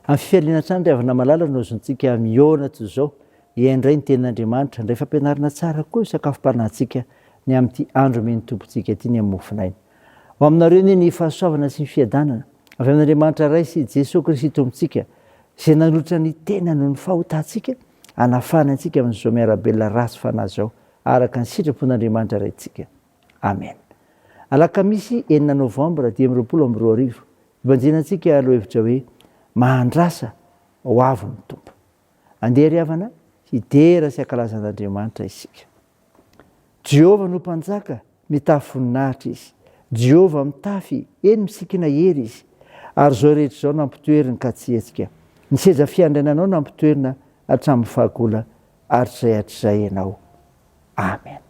Amin'ny fifaliana hatrany ry havana malala no azontsika mihaona toy izao, hihaino indray ny tenin'Andriamanitra, indray fampianarana tsara koa ny sakafom-panahintsika ny amin'ity andro omen'ny Tompontsika ity ny amin'ny mofonaina. Ho aminareo anie ny fahasoavana sy ny fiadanana avy amin'Andriamanitra Ray sy Jesoa Kristy Tompontsika, izay nanolotra ny tenany ho ny fahotantsika, hanafahany antsika amin'izao miarabelona ratsy fanahy izao, araka ny sitrapon'Andriamanitra Raintsika. Amen. Alakamisy enina Novambra dimy amby roapolo amby roa arivo, hibanjina antsika lohahevitra hoe Mahandrasa ho avy ny Tompo. Andeha ry havana, hidera sy hankalaza an'Andriamanitra isika. Jehovah no Mpanjaka, mitafy voninahitra izy. Jehovah mitafy, eny misikina hery izy. Ary izao rehetra izao nampitoeriny ka tsy hetsika. Ny seza fiandrainanao nampitoerina hatramin'ny fahagola hatrizay hatrizay ianao. Amen.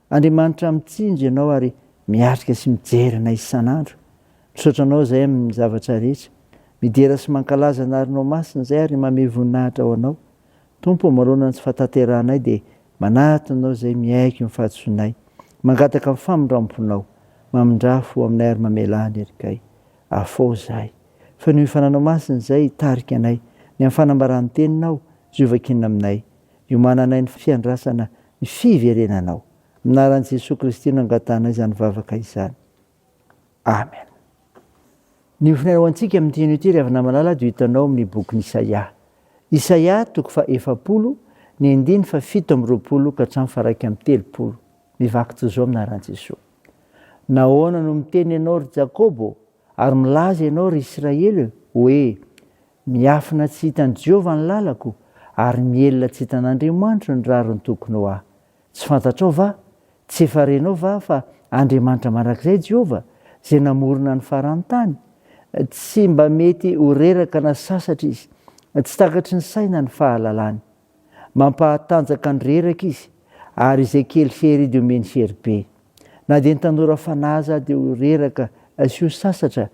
Andriamanitra mitsinjo ianao ary miatrika sy mijery anay isan'andro. Misaotra anao izay amin'ny zavatra rehetra. Midera sy mankalaza anarinao masina izay ary mamehy voninahitra ho anao. Tompo ô manoloana ny tsy fahatanterahanay dia manatona anao izay miaiky ny fahadisoanay. Mangataka ny famindramponao. Mamindrà fo aminay ary mamelà ny erikay. Afaho izahay. Fenoy ny fananao masina izay hitarika anay. Ny amin'ny fanambaràn'ny teninao. Jiovakina aminay. Iomananay ny fiandrasana ny fiverenanao. Amin'ny anaran'i Jesoa Kristy no angatanay izany vavaka izany. Amen. Ny ofona ho antsika amin'ny teny ity ry havana malala dia hitanao amin'ny bokin'i Isaia. Isaia toko fa efapolo, ny andiny fa fito amby roapolo ka hatramin'ny fa raika amby telopolo. Mivaky toy izao amin'ny anaran'i Jesoa. Nahoana no miteny ianao ry Jakobo ary milaza ianao ry Israely hoe Miafina tsy hitan'i Jehovah ny lalako, ary mihelina tsy hitan'Andriamanitro ny rariny tokony ho ahy. Tsy fantatrao va? Tsy efa renao va fa Andriamanitra mandrakizay Jehovah, izay namorona ny faran'ny tany? Tsy mba mety ho reraka na sasatra izy. Tsy takatry ny saina ny fahalalany. Mampahatanjaka ny reraka izy ary izay kely hery dia omeny hery be. Na dia ny tanora fanahy aza dia ho reraka sy ho sasatra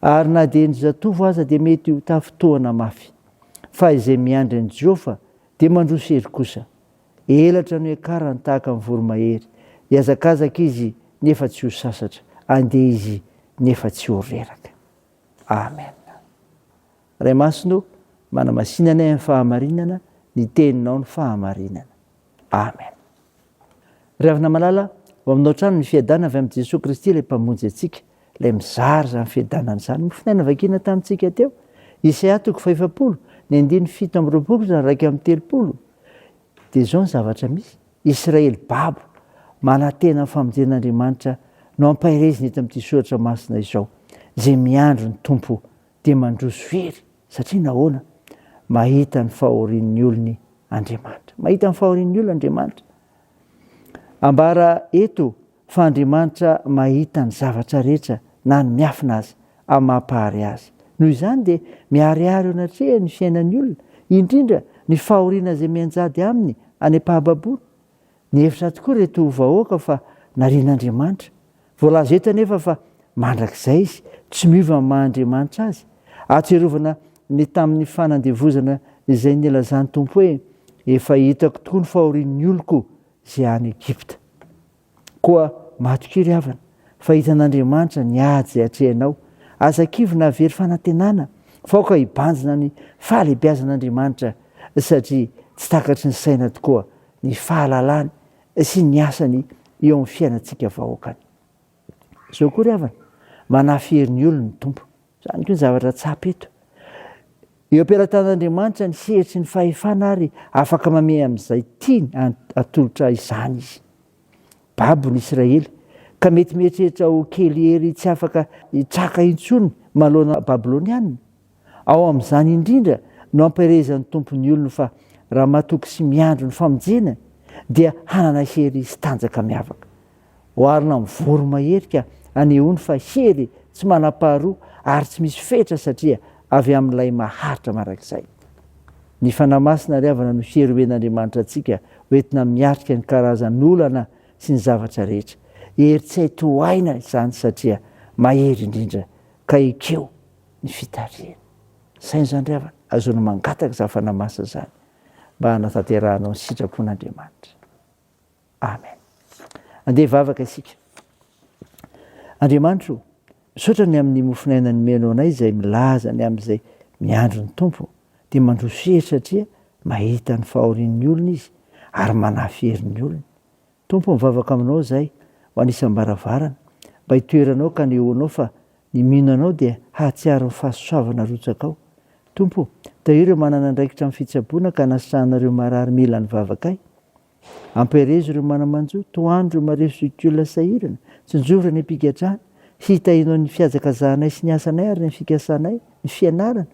ary na dia ny zatovo aza dia mety ho tafintohana mafy. Fa izay miandry an'i Jehofa dia mandroso hery kosa. Elatra no hiakarany tahaka ny voromahery. Hiazakazaka izy nefa tsy ho sasatra. Handeha izy nefa tsy ho reraka. Amen. Ray Masina o, manamasina anay amin'ny fahamarinana, ny Teninao no fahamarinana. Amen. Ry Havana Malala, ho aminao hatrany ny fiadana avy amin'i Jesoa Kristy ilay Mpamonjy antsika, ilay mizara izany fiadanana izany. Mofonay navakiana tamintsika teo, Isaia toko fahefapolo, ny andininy fito amby roapolo sy ny raika amby telopolo, dia izao ny zavatra misy, Israely babo, manantena ny famonjen'Andriamanitra no ampaherezina eto amin'ity soratra masina izao, izay miandry ny Tompo dia mandroso very satria nahoana? Mahita ny fahorian'ny olony Andriamanitra. Mahita ny fahorian'ny olona Andriamanitra. Ambara eto fa Andriamanitra mahita ny zavatra rehetra na ny miafina aza amin'ny maha-mpahary azy. Noho izany dia miharihary eo anatreha ny fiainan'ny olona, indrindra ny fahoriana izay mianjady aminy any am-pahababoana. Nihevitra tokoa ireto vahoaka fa narian'Andriamanitra. Voalaza eto anefa fa mandrakizay izy, tsy miova amin'ny maha Andriamanitra azy. Ahatsiarovana ny tamin'ny fanandevozana izay nilazan'ny Tompo hoe, Efa hitako tokoa ny fahorian'ny oloko izay any Egypta. Koa matokia ry havana, fa hitan'Andriamanitra ny ady izay atrehinao. Aza kivy na very fanantenana fa aoka hibanjina ny fahalehibiazan'Andriamanitra satria tsy takatry ny saina tokoa ny fahalalany sy ny asany eo amin'ny fiainantsika vahoakany. Zao koa ry havana, manafihery ny olony ny Tompo. Izany koa ny zavatra tsapa eto. Eo am-pelatanan'Andriamanitra ny hery sy ny fahefana ary afaka mamehy amin'izay tiany atolotra izany Izy. Babo ny Israely, ka mety mieritreritra ho kely hery tsy afaka hitraka intsony manoloana Babylonianina. Ao amin'izany indrindra no ampielezan'ny Tompo ny olony fa raha matoky sy miandry ny famonjena dia hanana hery sy tanjaka miavaka. Oharina amin'ny voromahery ka anehoany fa hery, tsy manam-paharoa ary tsy misy fetra satria avy amin'Ilay Maharitra mandrakizay. Ny Fanahy Masina ry havana no hery omen'Andriamanitra antsika hoentina miatrika ny karazan'olana sy ny zavatra rehetra. Hery tsy hay tohaina izany satria mahery indrindra ka ekeo ny fitarihany. Saino izany ry havana, azonao mangataka izany Fanahy Masina izany mba hanatanterahanao ny sitrapon'Andriamanitra. Amen. Andeha hivavaka isika. Andriamanitro, misaotra ny amin'ny mofon'aina nomenao anay izay milaza ny amin'izay miandry ny Tompo dia mandroso hery satria mahita ny fahorian'ny olona izy ary manafy hery ny olony. Tompo mivavaka aminao izay ho anisam-baravarana mba hitoeranao ka nehoanao fa ny mino anao dia hahatsiaro ny fahasoavana rotsakao. Tompo, tahio ireo manana andraikitra amin'ny fitsaboana ka anasana ireo marary mila ny vavakay. Ampiherezo ireo mana-manjo, tohano ireo mareso sy ty olona sahirana, tsinjovy ireo any am-pigadrana, hitahinao ny fihajakazanay sy ny asanay ary ny fikasanay, ny fianarana,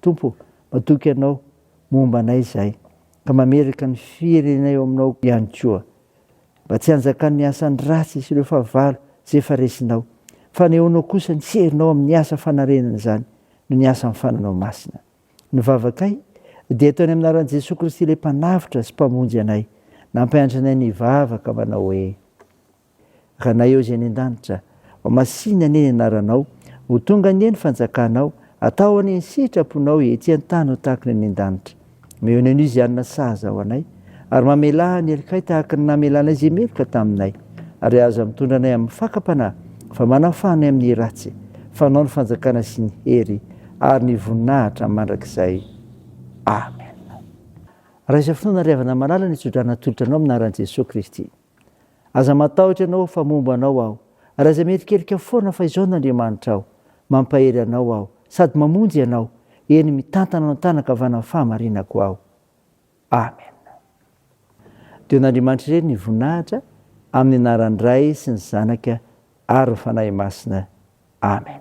Tompo ô, matoky Anao momba anay izahay, ka mametraka ny firenena eo Aminao ihany koa, mba tsy hanjakan'ny asan'ny ratsy sy ireo fahavalo izay efa resinao, fanehoanao kosa ny herinao amin'ny asa fanarenana izany noho ny asan'ny fananao masina. Ny vavakay dia ataony amin'ny anaran'i Jesoa Kristy ilay Mpanavotra sy Mpamonjy anay, nampianatra anay ny hivavaka manao hoe, Ranay ao izay any an-danitra, ho masìna anie ny anaranao, ho tonga anie ny fanjakanao, atao anie ny sitraponao ety an-tany ho tahaka ny any an-danitra. Omeo anay anio izay hanina sahaza ho anay, ary mamelà ny helokay tahaka ny namelànay izay meloka taminay, ary aza mitondra anay amin'ny fakam-panahy, fa manafaha anay amin'ny ratsy, fa anao ny fanjakana sy ny hery ary ny voninahitra mandrakizay. Amen. Raha izao fotoana ry havana malala ny tso-drano atolotra anao amin'ny anaran'i Jesoa Kristy. Aza matahotra ianao fa momba anao aho, ary aza mierikerika foana fa izao no Andriamanitra aho, mampahery anao aho, sady mamonjy ianao, eny mitantana anao an-tanan-kavanan'ny fahamarinako aho. Amen. Deo n'Andriamanitra irery ny voninahitra amin'ny anaran'ny Ray sy ny Zanaka ary ny Fanahy Masina. Amen.